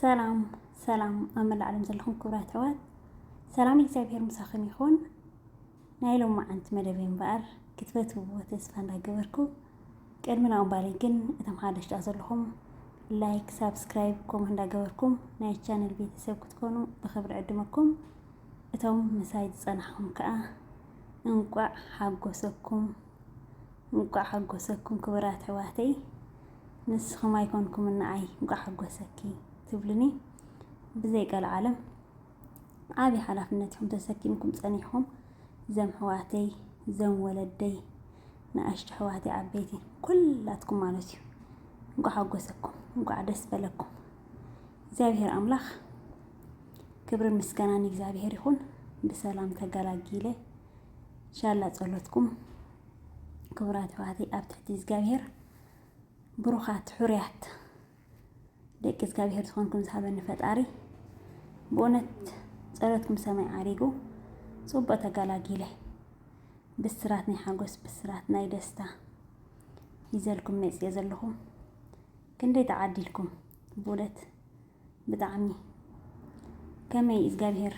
ሰላም ሰላም ኣብ መላእ ዓለም ዘለኹም ክቡራት ኣሕዋት ሰላም እግዚኣብሔር ምሳኹም ይኹን። ናይ ሎም መዓንቲ መደብ እምበኣር ክትፈትውዎ ተስፋ እንዳገበርኩ ቅድሚ ናኡ እምባለይ ግን እቶም ሓደሽታ ዘለኹም ላይክ፣ ሳብስክራይብ፣ ኮመንት እንዳገበርኩም ናይ ቻነል ቤተሰብ ክትኮኑ ብክብሪ ዕድመኩም። እቶም ምሳይ ዝፀናሕኹም ከዓ እንቋዕ ሓጎሰኩም እንቋዕ ሓጎሰኩም ክቡራት ኣሕዋተይ ንስኹም ኣይኮንኩምን ንዓይ እንቋዕ ሓጎሰኪ ትብሉኒ ብዘይ ቀልዓለም ዓብዪ ሓላፍነት ኢኹም ተሰኪምኩም ፀኒሕኹም ዘም ኣሕዋተይ ዘም ወለደይ ንኣሽቱ ኣሕዋተይ ዓበይቲ ኩላትኩም ማለት እዩ እንቋዕ ሓጎሰኩም እንቋዕ ደስ በለኩም እግዚኣብሔር ኣምላኽ ክብርን ምስጋናን እግዚኣብሔር ይኹን ብሰላም ተገላጊለ ሻላ ጸሎትኩም ክቡራት ኣሕዋተይ ኣብ ትሕቲ እግዚኣብሄር ብሩኻት ሕሩያት ደቂ እግዚኣብሄር ዝኾንኩም ዝሃበኒ ፈጣሪ ብእውነት ጸሎትኩም ሰማይ ዓሪጉ ጽቡቕ ተገላጊለ ብስራት ናይ ሓጎስ ብስራት ናይ ደስታ ይዘልኩም መጽየ ዘለኹ ክንደይ ተዓዲልኩም ብእውነት ብጣዕሚ ከመይ እግዚኣብሔር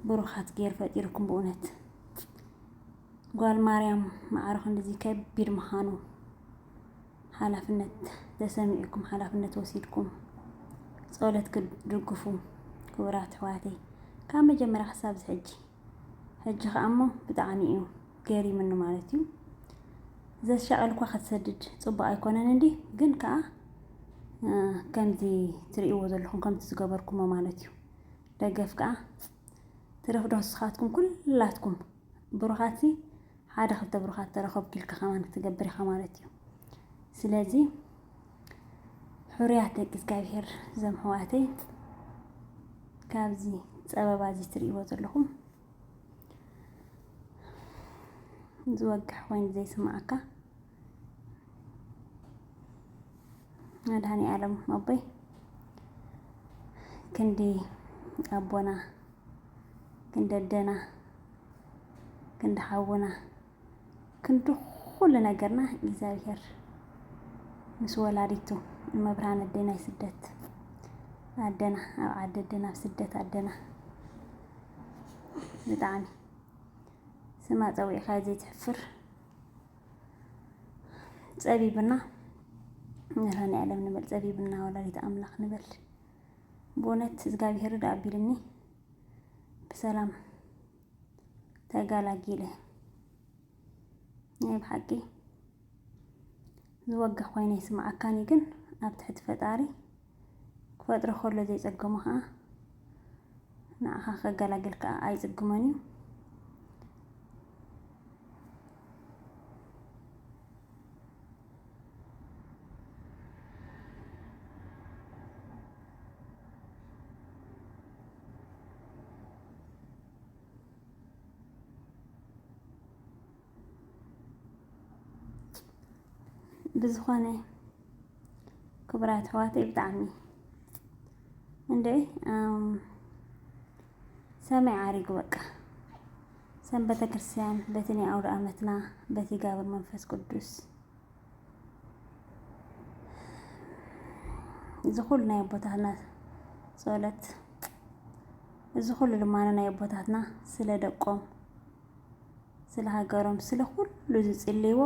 ብሩኻት ገይሩ ፈጢሩኩም ብእውነት ጓል ማርያም ማዕረ ክንድዚ ከቢድ ምዃኑ ሓላፍነት ተሰሚዑኩም ሓላፍነት ወሲድኩም ጸሎት ክትድግፉ ክቡራት ኣሕዋተይ ካብ መጀመርያ ክሳብ ዝሕጂ ሕጂ ከኣ እሞ ብጣዕሚ እዩ ገሪምኒ ማለት እዩ። ዘሻቐል እኳ ክትሰድድ ፅቡቅ ኣይኮነን እንዲ ግን ከዓ ከምዚ ትርእይዎ ዘለኹም ከምቲ ዝገበርኩሞ ማለት እዩ። ደገፍ ከዓ ትረፍ ዶ ንስኻትኩም ኩላትኩም ብሩኻት ሓደ ክልተ ብሩኻት ተረኸብኩ ኢልካ ከማን ክትገብር ኢኻ ማለት እዩ። ስለዚ ሕሩያት ደቂ እግዚኣብሄር ዘም ሕዋተይ ካብዚ ፀበባ እዚ ትርእይዎ ዘለኹም ዝወግሕ ኮይኑ ዘይስማዓካ መድሃኒኣለም ኣቦይ ክንዲ ኣቦና ክንዲ ኣደና ክንዲ ሓውና ክንዲ ኩሉ ነገርና እግዚኣብሔር ምስ ወላዲቱ እመብርሃን ኣዴና ናይ ስደት ኣደና ኣብ ዓዲ ኣደና ኣብ ስደት ኣደና ብጣዕሚ ስማ ፀዊዕካ ዘይትሕፍር ፀቢብና መድሃኒ ዓለም ንበል ፀቢብና ወላዲት ኣምላኽ ንበል ብእውነት እግዚኣብሔር ዳ ኣቢልኒ ብሰላም ተጋላጊለ ናይ ብሓቂ ዝወግሕ ኮይነ ይስምዓካኒ ግን ኣብ ትሕቲ ፈጣሪ ክፈጥሮ ከሎ ዘይጸገሞ ከዓ ንዓኻ ከገላግል ከዓ ኣይጽግሞን እዩ ብዝኾነ ክቡራት ኣሕዋተይ ብጣዕሚ እንደ ሰማይ ዓሪጉ በቃ ሰንበተ ክርስቲያን በቲ ናይ ኣውደ ዓመትና በቲ ጋብር መንፈስ ቅዱስ እዚ ኩሉ ናይ ኣቦታትና ጸሎት እዚ ኩሉ ልማኖ ናይ ኣቦታትና ስለ ደቆም ስለ ሃገሮም ስለ ኩሉ ዝጽልይዎ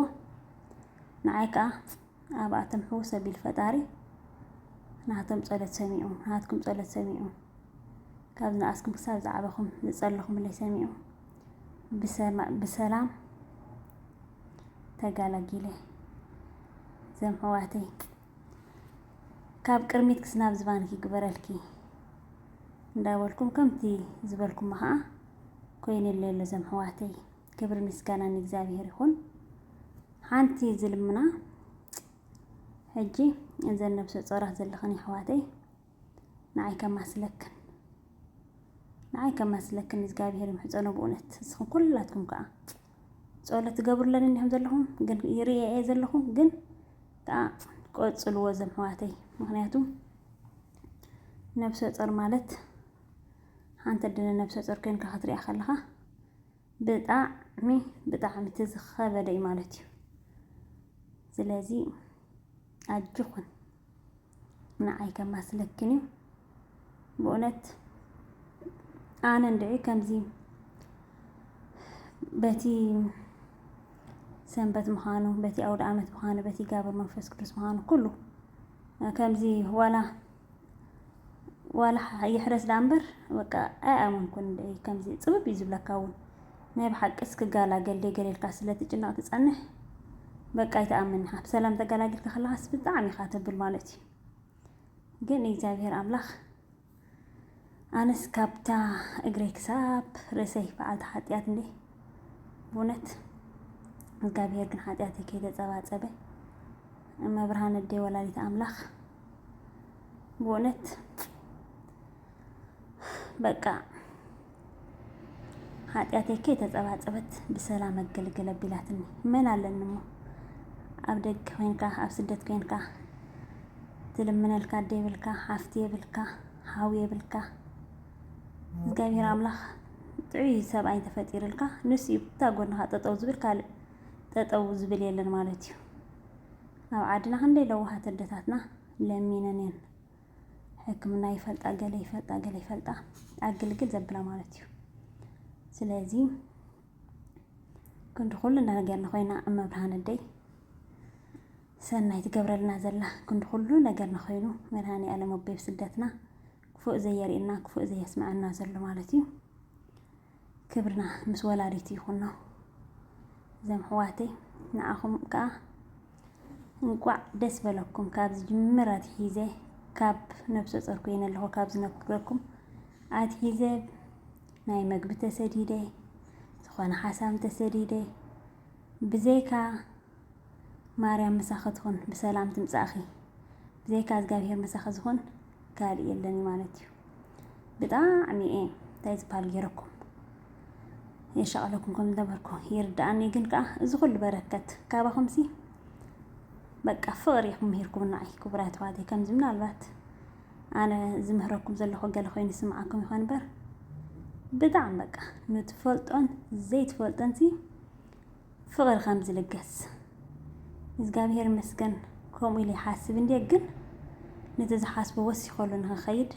ንዓይ ከዓ ኣብኣቶም ሕውስ ኣቢል ፈጣሪ ናቶም ጸሎት ሰሚዑ ናትኩም ጸሎት ሰሚዑ ካብ ንኣስኩም ክሳብ ዝዓበኹም ዝጸለኹምለይ ሰሚዑ ብሰላም ተጋላጊለ ዘም ሕዋተይ ካብ ቅድሚት ክስናብ ዝባንኪ ግበረልኪ እንዳበልኩም ከምቲ ዝበልኩም ከዓ ኮይነለ ኣሎ ዘም ሕዋተይ ክብሪ ምስጋና ንእግዚኣብሔር ይኹን ሓንቲ ዝልምና ሕጂ እዘን ነብሰ ጾራት ዘለኽን ይሕዋተይ ንዓይ ከማስለክን ንዓይ ከማስለክን እግዚኣብሄር ይምሕጸኖ ብእውነት ንስኹም ኩላትኩም ከዓ ጸሎት ትገብሩለን እንዲኹም ዘለኹም ግን ይርኤ እየ ዘለኹ ግን ከዓ ቆጽልዎ ዘም ሕዋተይ ምክንያቱ ነብሰ ጾር ማለት ሓንቲ ድነ ነብሰ ጾር ኮይንካ ክትሪኣ ከለኻ ብጣዕሚ ብጣዕሚ እቲ ዝኸበደ እዩ ማለት እዩ ስለዚ ኣጆኹን ንዓይ ከማስለክን እዩ ብእውነት ኣነ እንድዒ ከምዚ በቲ ሰንበት ምዃኑ በቲ ኣውደ ዓመት ምዃኑ በቲ ጋብር መንፈስ ቅዱስ ምዃኑ ኩሉ ከምዚ ዋላ ዋላ ይሕረስ ዳኣ እምበር በቃ ኣይኣመንኩን ከምዚ ፅብብ እዩ ዝብለካ እውን ናይ ብሓቂስ ክጋላገል ደይ ገለ ኢልካ ስለ ትጭነቅ ትጸንሕ በቃ ኣይትኣምን ኢካ ብሰላም ተጋላጊልካ ከለካስ ብጣዕሚ ኢካ ተብል ማለት እዩ ግን እግዚኣብሔር ኣምላክ ኣነስ ካብታ እግረይ ክሳብ ርእሰይ በዓልቲ ሓጢኣት እንዴ ብእውነት እግዚኣብሔር ግን ሓጢኣተይ ከይተጸባጸበ እመብርሃን እዴ ወላዲት ኣምላክ በእውነት በቃ ሓጢኣተይ ከይተጸባጸበት ብሰላም ኣገልግል ኣቢላትኒ መን ኣለኒ እሞ ኣብ ደገ ኮንካ ኣብ ስደት ኮንካ ትልምነልካ ኣደ የብልካ ሓፍቲ የብልካ ሓው የብልካ እግዚኣብሔር ኣምላኽ ጥዑይ ሰብኣይ ተፈጢሩልካ ንሱ እዩ ብታ ጎንኻ ጠጠው ዝብል ካልእ ጠጠው ዝብል የለን ማለት እዩ ኣብ ዓድና ክንደይ ለዋሃት ኣደታትና ለሚነን እየን ሕክምና ይፈልጣ ገለ ይፈልጣ ገለ ይፈልጣ ኣግልግል ዘብላ ማለት እዩ ስለዚ ክንዲ ኩሉ ነገር ንኮይና እመብርሃን እደይ ሰናይ ትገብረልና ዘላ ክንዲ ኩሉ ነገር ንኮይኑ መድሃኒ ኣለም ኣቦይ ስደትና ክፉእ ዘየርእና ክፉእ ዘየስምዐና ዘሎ ማለት እዩ ክብርና ምስ ወላዲት ይኹኖ እዞም ኣሕዋተይ ንዓኹም ከዓ እንቋዕ ደስ በለኩም ካብ ዝጅምር ኣትሒዘ ካብ ነብሰ ጾር ኮይነ ኣለኹ ካብ ዝነግረኩም ኣትሒዘ ናይ መግቢ ተሰዲደ ዝኾነ ሓሳም ተሰዲደ ብዘይካ ማርያም ምሳኺ ትኹን ብሰላም ትምጻእኺ። ብዘይካ እግዚኣብሄር ምሳኺ ዝኹን ካልእ የለን እዩ ማለት እዩ። ብጣዕሚ እየ እንታይ ዝበሃል ገይረኩም የሻቐለኩም ከም ዝነበርኩ ይርድኣኒ። ግን ከዓ እዚ ኩሉ በረከት ካባኹምሲ በቃ ፍቕሪ ኢኹም ምሂርኩም ንዓይ ክቡራት ኣሕዋተይ። ከምዚ ምናልባት ኣነ ዝምህረኩም ዘለኹ ገለ ኮይኑ ስምዓኩም ይኾን እምበር ብጣዕሚ በቃ ንትፈልጦን ዘይትፈልጦንሲ ፍቅሪ ከምዚ ልገስ እዝጋብሄር ይመስገን ከምኡ ኢለ ይሓስብ እንድየ ግን ነቲ ዝሓስቦ ወሲኸሉ ንክኸይድ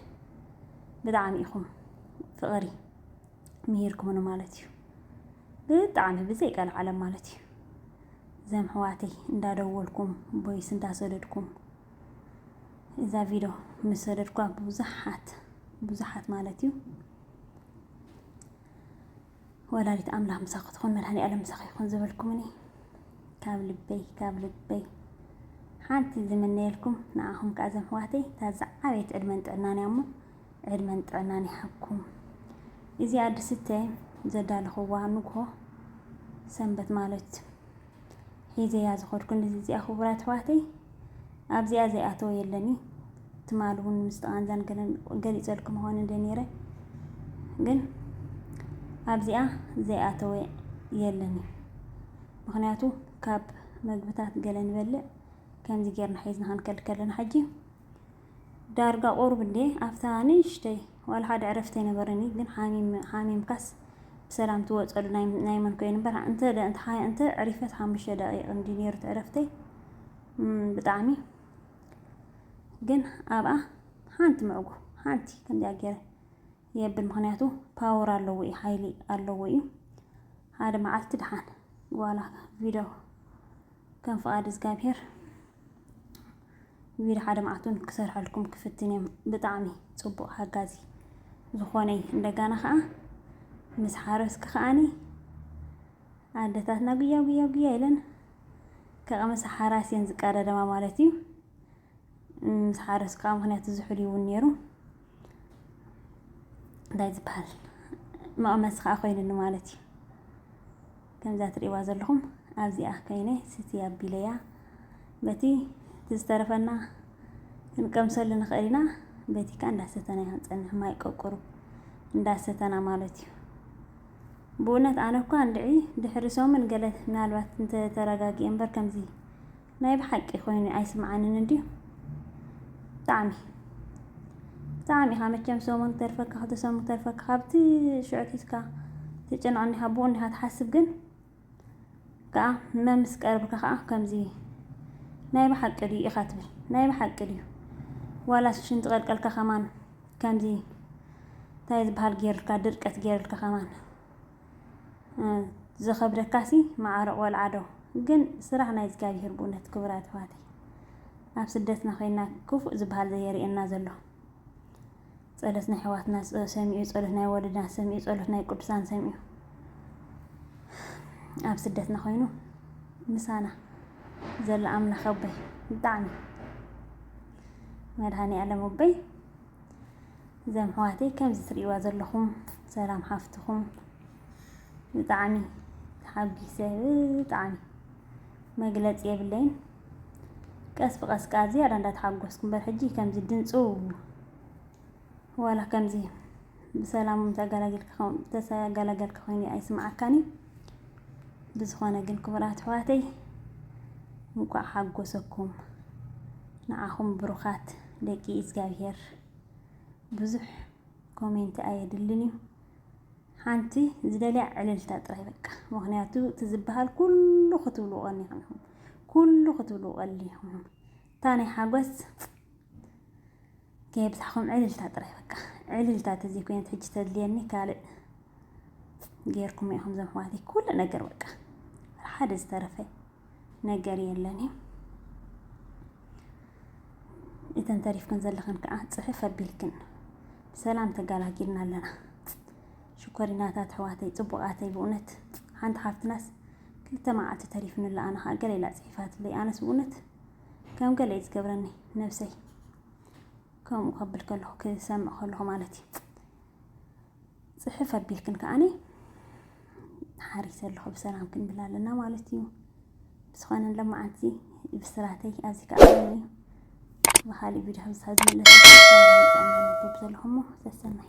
ብጣዕሚ ኢኹም ፍቅሪ ምሂርኩምኒ ማለት እዩ ብጣዕሚ ብዘይ ቀልዓለም ማለት እዩ ዘም ሕዋተይ እንዳደወልኩም ቦይስ እንዳሰደድኩም እዛ ቪድዮ ምስ ሰደድኳ ብዙሓት ብዙሓት ማለት እዩ ወላዲት ኣምላኽ ምሳኺ ትኹን መድሃኒኣለም ምሳኺ ይኹን ዝበልኩምኒ ካብ ልበይ ካብ ልበይ ሓንቲ ዝምነየልኩም ንዓኹም ከዓ ዘም ህዋተይ እታ ዝዓበየት ዕድመን ጥዕናን እያ እሞ ዕድመን ጥዕናን ይሃብኩም እዚኣ ድስተ ዘዳለኽዋ ንግሆ ሰንበት ማለት ሒዘያ ዝኸድኩ ንዚዚኣ ክቡራት ኣሕዋተይ ኣብዚኣ ዘይኣተወ የለን እዩ ትማል እውን ምስ ተቓንዛን ገሊፀልኩም ኾነ እንደ ነይረ ግን ኣብዚኣ ዘይኣተወ የለን እዩ ምክንያቱ ካብ መግብታት ገለ ንበልዕ ከምዚ ጌርና ሒዝና ክንከድ ከለና ሕጂ ዳርጋ ቁሩብ እንድየ ኣብታ ንእሽተይ ዋላ ሓደ ዕረፍቲ ኣይነበረን እዩ ግን ሓሚም ሓሚምካስ ብሰላም ትወፀሉ ናይ ናይ መን ኮይኑ እምበር እንተ ደ- እንተ ሓ- እንተ ዕሪፈት ሓሙሽተ ደቂቕ እንዲ ነይሩ እቲ ዕረፍተይ እም፣ ብጣዕሚ ግን ኣብኣ ሓንቲ ምዕጉ ሓንቲ ከምዚኣ ገይረ የብል ምክንያቱ ፓወር ኣለዎ እዩ ሓይሊ ኣለዎ እዩ ሓደ መዓልቲ ድሓን ዋላ ቪድዮ ከም ፍቓድ እግዚኣብሄር ቪድዮ ሓደ መዓልቲ እውን ክሰርሐልኩም ክፍትን እዮም ብጣዕሚ ፅቡቅ ሓጋዚ ዝኾነ እዩ እንደጋና ከዓ ምስ ሓረስኪ ከዓኒ ኣደታትና ጉያ ጉያ ጉያ ኢለን ከቐመሰ ሓራስ እየን ዝቀዳደማ ማለት እዩ ምስ ሓረስኪ ከዓ ምክንያቱ ዝሑል ይውን ነይሩ እንታይ ዝበሃል መቐመሲ ከዓ ኮይኑኒ ማለት እዩ ከምዛ ትርእይዋ ዘለኹም ኣብዚኣ ከይነ ስቲ ኣቢለያ በቲ ዝተረፈና ክንቀምሰሉ ንኽእል ኢና። በቲ ከዓ እንዳሰተና ኢና ንፀንሕ ማይ ቆቁሩ እንዳሰተና ማለት እዩ። ብእውነት ኣነ እኳ እንድዒ ድሕሪ ሰሙን ገለ ምናልባት እንተተረጋጊኤ እምበር ከምዚ ናይ ብሓቂ ኮይኑ ኣይስምዓንን እንድዩ ብጣዕሚ ብጣዕሚ ኢኻ መቸም ሰሙን ክተርፈካ ክልተ ሰሙን ክተርፈካ ካብቲ ሽዑ ኣትሒዝካ ትጨንቕ እንዲኻ ብኡ እንዲኻ ትሓስብ ግን ከኣ ህመም ምስ ቀርብካ ከኣ ከምዚ ናይ ብሓቂ ድዩ ኢኻ ትብል ናይ ብሓቂ ድዩ ዋላስ ሽንቲ ቀልቀልካ ከማን ከምዚ እንታይ ዝበሃል ገይሩልካ ድርቀት ገይሩልካ ከማን ዝከብደካሲ ማዓረ ቆልዓ ዶ ግን ስራሕ ናይ እዝጋቢሄር ብኡነት ክቡራት ኣሕዋተይ ኣብ ስደትና ኮይና ክፉእ ዝባሃል ዘየሪኤና ዘሎ ጸሎት ናይ ኣሕዋትና ሰሚኡ ጸሎት ናይ ወለድና ሰሚኡ ጸሎት ናይ ቅዱሳን ሰሚኡ ኣብ ስደትና ኮይኑ ምሳና ዘሎ ኣምላኽ ኣቦይ ብጣዕሚ መድሃኔ ኣለም ኣቦይ እዘን ኣሕዋተይ ከምዚ ትሪእዋ ዘለኹም ሰላም ሓፍትኹም ብጣዕሚ ተሓጒሰ ብጣዕሚ መግለፂ የብለይን። ቀስ ብቀስ ከዓ ዝያዳ እንዳተሓጎስኩ እምበር ሕጂ ከምዚ ድምፁ ዋላ ከምዚ ብሰላም ተገላገልካ ኮይኑ ኣይስምዓካን እዩ። ብዝኾነ ግን ክቡራት ኣሕዋተይ እንኳዕ ሓጎሰኩም ንዓኹም ብሩኻት ደቂ እግዚኣብሄር ብዙሕ ኮሜንቲ ኣየድልን እዩ ሓንቲ ዝደልያ ዕልልታ ጥራይ በቃ ምክንያቱ እቲ ዝበሃል ኩሉ ክትብሉ ቀኒኹም ኢኹም ኩሉ ክትብሉ ቀሊኹም ኢኹም እታ ናይ ሓጎስ ከየብዛሕኩም ዕልልታ ጥራይ በቃ ዕልልታ ተዘይ ኮይነት ሕጂ ተድልየኒ ካልእ ጌርኩም ኢኹም ዘምሕዋተይ ኩሉ ነገር በቃ ሓደ ዝተረፈ ነገር የለን እዩ እተን ተሪፍክን ዘለኽን ከዓ ፅፍፍ ኣቢልክን ብሰላም ተገላጊልና ኣለና። ሽኮሪናታት ኣሕዋተይ ፅቡቃተይ ብእውነት ሓንቲ ሓፍትናስ ክልተ መዓልቲ ተሪፍንላ ኣነ ከዓ ገለ ኢላ ፅሒፋትለይ ኣነስ ብእውነት ከም ገለ እዩ ዝገብረኒ ነብሰይ ከምኡ ከብል ከለኹ ክሰምዕ ከለኹ ማለት እዩ ፅሕፍ ኣቢልክን ከዓኒ ሓሪሰ ኣለኹ ብሰላም ክንብል ኣለና ማለት እዩ ብዝኾነ ለመዓንቲ ብስራተይ ኣብዚ ከዓ ብካሊእ ቪድዮ ከምሳ ዝመለስ ሰላም ጥዕና ነበብ ዘለኹሞ ሰሰናይ